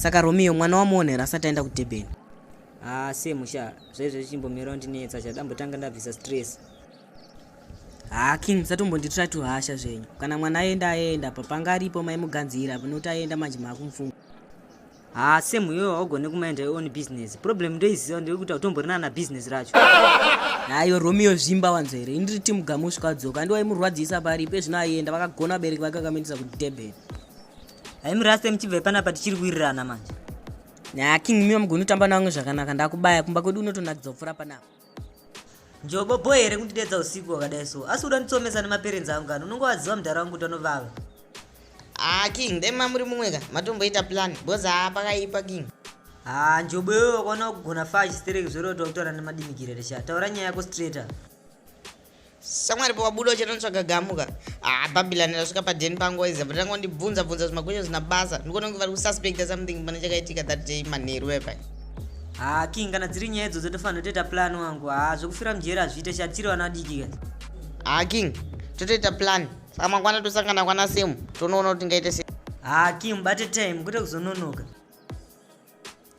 saka romeo mwana wamuonera asati aenda kudurban haa ah, se musha zvaizvo zvichimbomirawo ndinetsa chadambotanga ndabvisa stress haa ah, king musatombonditira tuhasha zvenyu kana mwana aenda aenda papanga aripo maimuganzira panokuti aenda manje maakumfunga haa same iwewe haugone kumaenda your own business problem ndoiziva ndekuita utomborinana business racho hayo romeo zvimba wanzo here indiri timu gamu usvika adzoka andi waimurwadzisa pari ipe zvino aienda vakagona vabereki vake vakamuendesa kudurban haimuraste muchibve panapa tichiri kuwirirana manje na king miwa mugoni kutamba navamwe zvakanaka ndakubaya kumba kwedu unotonakidza kupfuura panapa njobo boy here kundidedza usiku wakadai so asi uda nditsomesa nemaperenzi angu kani unonge waziva mudhara wangu kuti anovava haa ah, king dai mamuri mumwe ka matomboita plan bcoz haa pakaipa king haa ah, njobo iwe wakaona kugona faa chistereki zvoroti wakutaura nemadimikirere sha taura nyaya yako straighter samwari pawabuda uchanotsvaga gamuka ah babilani rasvika padeni pangu waiza but rangu ndibvunza bvunza zvimakwesho zvina basa ndikuona kunge vari kususpecta something pane chakaitika that day manheru epai haa king kana dziri nyaya idzodzo ndofanira toita plan wangu haa zvekufira mujeri hazviite chatiri vana vadiki ka haa king totoita plan saka mangwana tosangana kwana semu tonoona kuti tingaite se haa king mubate time kwete kuzononoka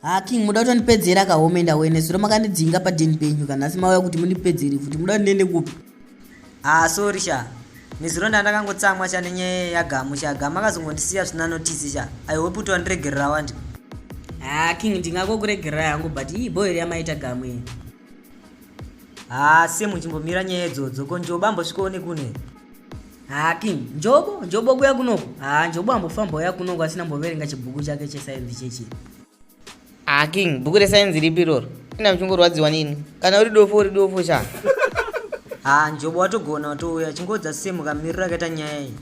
ha king muda kuti andipedzere akahome enda wene zuro makandidzinga padeni penyu ka nhasi mauya kuti mundipedzere futi muda ndiende kupi ha ah, sorry sha nezuro ndandakangotsamwa sha nenyaya yagamu sha gamu akazongondisiya zvisina notisi sha i hope kuti wandiregerera wandi ha ah, king ndingakokuregerera yangu but iyi boyeri yamaita gamu iyi haa semu chimbomira nyaya idzodzo ko njobo ambosvikawo nekune haa king njobo njobo kuya kunoko haa njobo ambofamba uya kunoko asina mboverenga chibhuku chake chesainzi chechi haa king bhuku resainzi ripi iroro ina muchingorwadziwa nini kana uri dofo uri dofo sha haa njobo watogona watouya chingodza semu kamiriro akaita nyaya iyi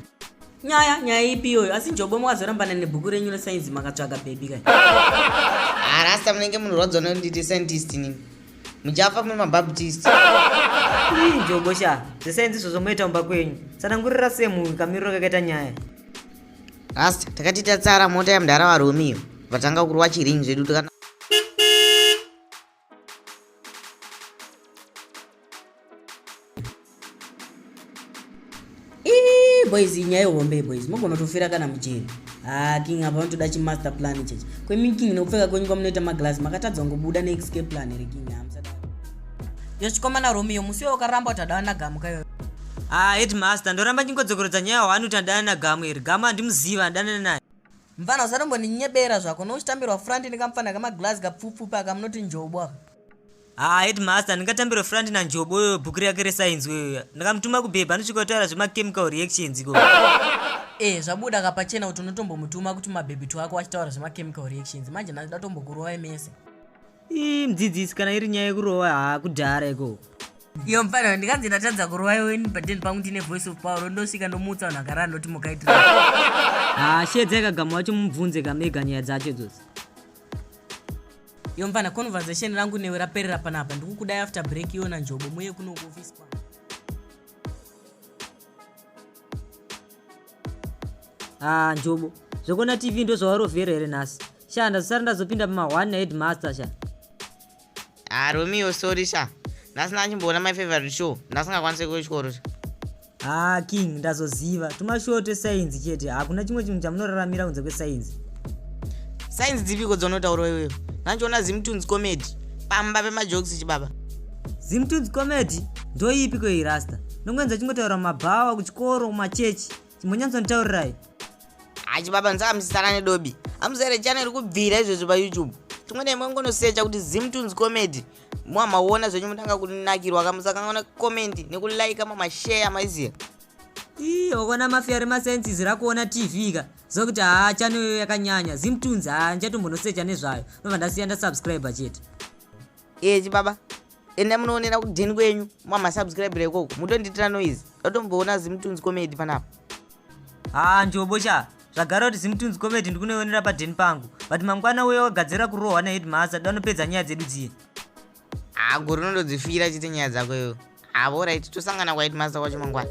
nyaya nyaya ipi iyoyo asi njobo makazorambana nebhuku renyu resainzi makatsvaga bhebi kai arasta ah, munenge munorwadzwa nonditi scientist nini muchafa muri mabaptist ii njobo sha zvesainzi izvozvo moita mumba kwenyu sanangurira se munhu kamiriro kakaita nyaya rasta takati tatsara mota yamdara varomiyo vatanga kurwa chiringi zvedu tikana boys inyaya ihombe boys mogona kutofira kana mujeri haa ah, king apa vanotoda chimaster plan chechi kwemi king nekupfeka kwenyu kwamunoita maglass makatadza kungobuda neexcape plan here king hamusada yochikomana romeo musi iwo ukaramba kuti adana gamu kayo haa ah, headmaster ndoramba ndingodzokorodza nyaya hwani kuti adana gamu here gamu handimuziva andana naye Mfana usatomboninyebera zvako nouchitambirwa front nekamfana kamaglass kapfupfupi aka munoti njobo aka. Haa headmaster ndingatambirwe front nanjobo uyo bhuku rake resainzi uyoya ndakamutuma kubhebha anosvika kutaura zvemachemical reactions iko Eh zvabuda kapachena kuti unotombomutuma kuti mabhebhitwo ako achitaura zvemachemical reactions manje ndatotombokurovai mese. ii mudzidzisi kana iri nyaya yekurova haa kudhara iko iyo mfanira ndikanzi ndatadza kurova iwe ini but then pangu ndine voice of power ndosvika ndomuutsa vanhu akarara ndoti mukaitira haa shedza ikagama wacho mubvunze kamega nyaya dzacho dzosi iyo mfana conversation rangu newe raperera panapa ndikukudai after break iona njobo muye kunokuofisi kwangu haa ah, njobo zvekuona tv ndozvawarovhera here nhasi sha ndazosara ndazopinda pamahwani naheadmaster sha haa ah, romeo sorry sha ndasina achimboona my favorite show ndasingakwanise kuchikoro sha haa ah, king ndazoziva tumashow twesainzi chete hakuna chimwe chinhu chamunoraramira kunze kwesainzi sainzi dzipiko dzonotaurwa iweyo nandichiona zimtunes comedy pamba pemajokisi chibaba Zimtunes comedy ndoipi ko irasta. Nongoenza chingotaura mabhawa kuchikoro kumachechi. Chimbonyanso nitaurirai. Achi baba nzaka musisana nedobi. Amuzere channel kubvira izvezvi pa YouTube. Tumwe nemwe ngonosecha kuti Zimtunes comedy. Mwa maona zvenyu mutanga kunakirwa kamusakangaona comment nekulike mama share maiziya. Ii okona mafia rema senses rakuona TV ka. Zokuti haa channel yakanyanya. Zimtunes haa ndichatombonosecha nezvayo. Nobva ndasiya ndasubscriber chete. ee eh, chibaba enda munoonera kudheni kwenyu mwamasubscribira ikoko mutondiitira noise ndatomboona zimutunzi comedy panapa haa ah, njobo sha zvagara kuti zimutunzi comedy ndikunoionera padheni pangu but mangwana uya wagadzira kurohwa nahedmaster danopedza nyaya dzedu dziye haa ah, gori unondodzifira chite nyaya dzako iyo havo ah, right tosangana kwahedmaster kwacho mangwana